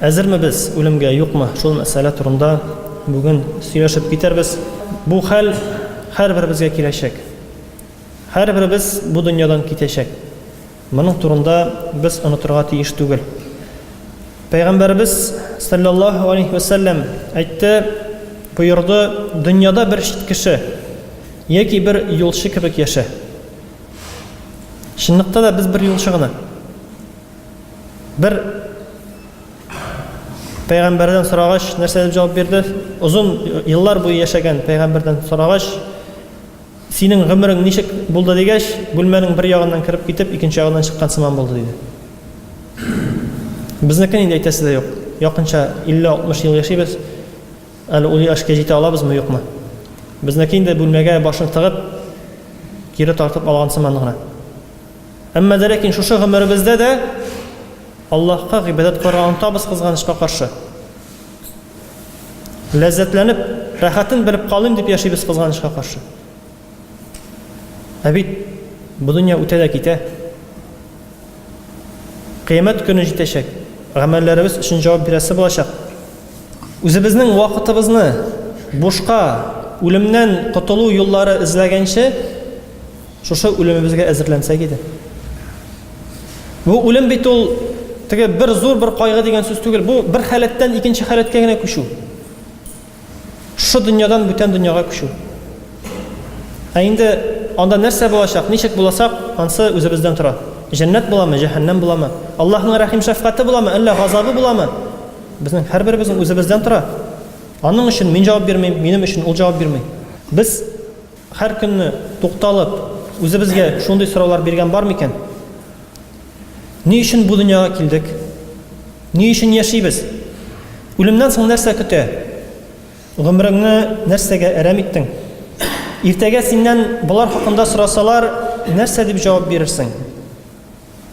Әзерме без үлемгә, юкмы, шул мәсьәлә турында бүген сөйләшеп китәрбез. Бу хәл һәрберебезгә киләчәк. Һәрберебез бу дөньядан китәчәк. Моның турында без онытырга тиеш түгел. Пәйгамбәребез саллаллаһу алейһи ва саллям әйтте, боерды, дөньяда бер чит кеше яки бер юлчы кебек яшә. Чынлыкта да без бер юлчы гына. Бер пәйгамбәрдән сорагач, нәрсә дип җавап бирде? Озын еллар буе яшәгән пәйгамбәрдән сорагач, синең гомерең ничек булды дигәч, бүлмәнең бер ягыннан кереп китеп, икенче ягыннан чыккан сыман булды диде. Безнекен инде әйтәсе дә юк. Якынча 50-60 ел яшибез. Әле ул яшькә җитә алабызмы, юкмы? Безнеке инде бүлмәгә башын тыгып, кире тартып алган сыман гына. Әмма дә ләкин шушы гомеребездә дә Аллаһка гыйбадәт кылырга онтабыз кызганычка каршы. Ләззәтләнеп, рәхәтен белеп калыйм дип яшибез кызганычка каршы. Ә бит бу дөнья үтә дә китә. Кыямәт көне җитәчәк. Гамәлләребез өчен җавап бирәсе булачак. Үзебезнең вакытыбызны бушка, үлемнән котылу юллары эзләгәнче, Шушы үлемебезгә әзерләнсәк иде. Бу үлем бит ул теге бер зур бер кайгы дигән сүз түгел. Бу бер халәттән икенче халәткә генә күчү. Шушы дөньядан бүтән дөньяга күчү. Ә инде анда нәрсә булачак, ничек буласак, ансы үзебездән тора. Җәннәт буламы, җәһәннәм буламы? Аллаһның рәхим шәфкате буламы, әллә газабы буламы? Безнең һәрберебезнең үзебездән тора. Аның өчен мин җавап бирмим, минем өчен ул җавап бирми. Без Һәр көнне тукталып, үзебезгә шундый сораулар биргән бар микән? Ни өчен бу дөньяга килдек? Ни өчен яшибез? Үлемнән соң нәрсә көтә? Гомереңне нәрсәгә әрәм иттең? Иртәгә синнән болар хакында сорасалар, нәрсә дип җавап бирерсең?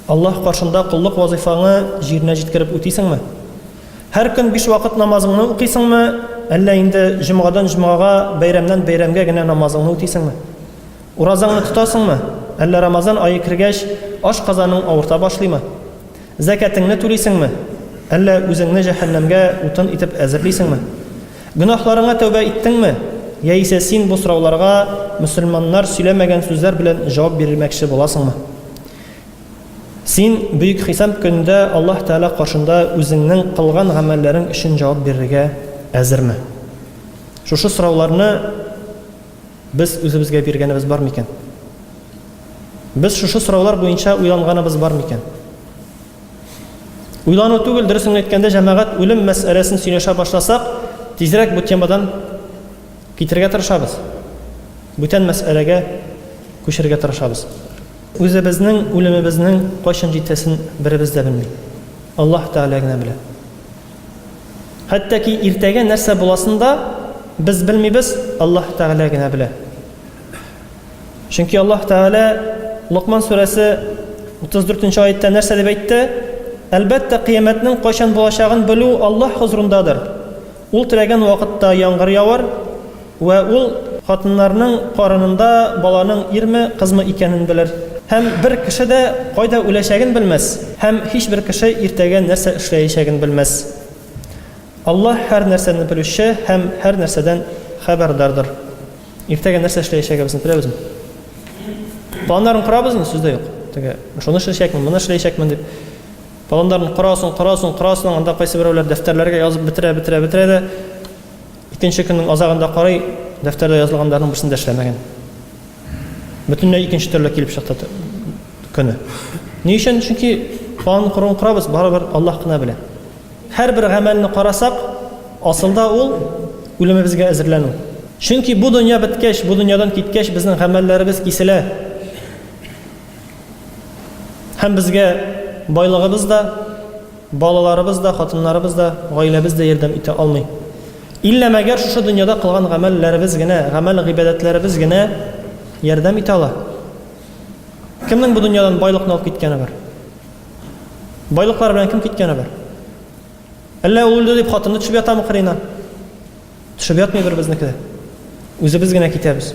Аллаһ каршында коллык вазыйфаңы җиренә җиткереп үтисеңме? Һәр көн биш вакыт намазыңны укыйсыңмы, әллә инде җомгадан җомгага, бәйрәмнән бәйрәмгә генә намазыңны үтисеңме? Уразаңны тотасыңмы, әллә Рамазан ае кергәч, ашказаның авырта башлыймы? Зәкәтеңне түлисеңме, әллә үзеңне җәһәннәмгә утын итеп әзерлисеңме? Гөнаһларыңа тәүбә иттеңме, яисә син бу сорауларга мөселманнар сөйләмәгән сүзләр белән җавап бирмәкче буласыңмы? Син бөек хисап көндә Аллаһ Тәала каршында үзеңнең кылган гамәлләрең өчен җавап бирергә әзерме? Шушы сорауларны без үзебезгә биргәнебез бар микән? Без шушы сораулар буенча уйланганыбыз бар микән? Уйлану түгел, дөресен әйткәндә, җәмәгать үлем мәсьәләсен сөйләшә башласак, тизрәк бу темадан Китерергә тырышабыз. Бүтән мәсьәләгә күчерергә тырышабыз. Үзебезнең үлемебезнең кайчан җитәсен беребез дә белми. Аллаһ Тәгалә генә белә. Хәтта ки иртәгә нәрсә буласын да без белмибез, Аллаһ Тәгалә генә белә. Чөнки Аллаһ Тәгалә Локман сүрәсе 34 нче аятта нәрсә дип әйтте? Әлбәттә, кыямәтнең кайчан булачагын белү Аллаһ хозурындадыр. Ул теләгән вакытта яңгыр явар вә ул хатыннарның карынында баланың ирме, кызмы икәнен белер. Һәм бер кеше дә кайда үләчәген белмәс, һәм һичбер кеше иртәгә нәрсә эшләячәген белмәс. Аллаһ һәр нәрсәне белүче һәм һәр нәрсәдән хәбәрдардыр. Иртәгә нәрсә эшләячәгебезне беләбезме? Планнарын корабызмы? Сүз дә юк. Теге, шуны эшләячәкмен, моны эшләячәкмен дип. Планнарын корасың, корасың, корасың, анда кайсы берәүләр дәфтәрләргә язып бетерә, бетерә, бетерә дә, икенче көннең азагында карый, дәфтәрдә язылганнарның берсен дә эшләмәгән. Бөтенләй икенче төрле килеп чыкты көне. Ни өчен? Чөнки план корын корабыз, барыбер Аллаһ кына белә. Һәрбер гамәлне карасак, асылда ул үлемебезгә әзерләнү. Чөнки бу дөнья беткәч, бу дөньядан киткәч, безнең гамәлләребез киселә. Һәм безгә байлыгыбыз да, балаларыбыз да, хатыннарыбыз да, гаиләбез дә ярдәм итә алмый. Иллә мәгәр шушы дөньяда кылган гамәлләребез генә, гамәл гыйбадәтләребез генә ярдәм итә ала. Кемнең бу дөньядан байлыкны алып киткәне бар? Байлыклар белән кем киткәне бар? Әллә ул үлде дип хатыны төшеп ятамы кырына? Төшеп ятмый бер безнеке дә. Үзебез генә китәбез.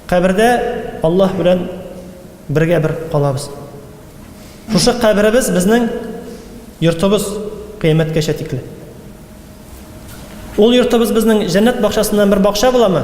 Кабердә Аллаһ белән бергә бер калабыз. Шушы каберебез безнең йортыбыз кыяметкәчә тикле. Ул йортыбыз безнең җәннәт бакчасыннан бер бакча буламы?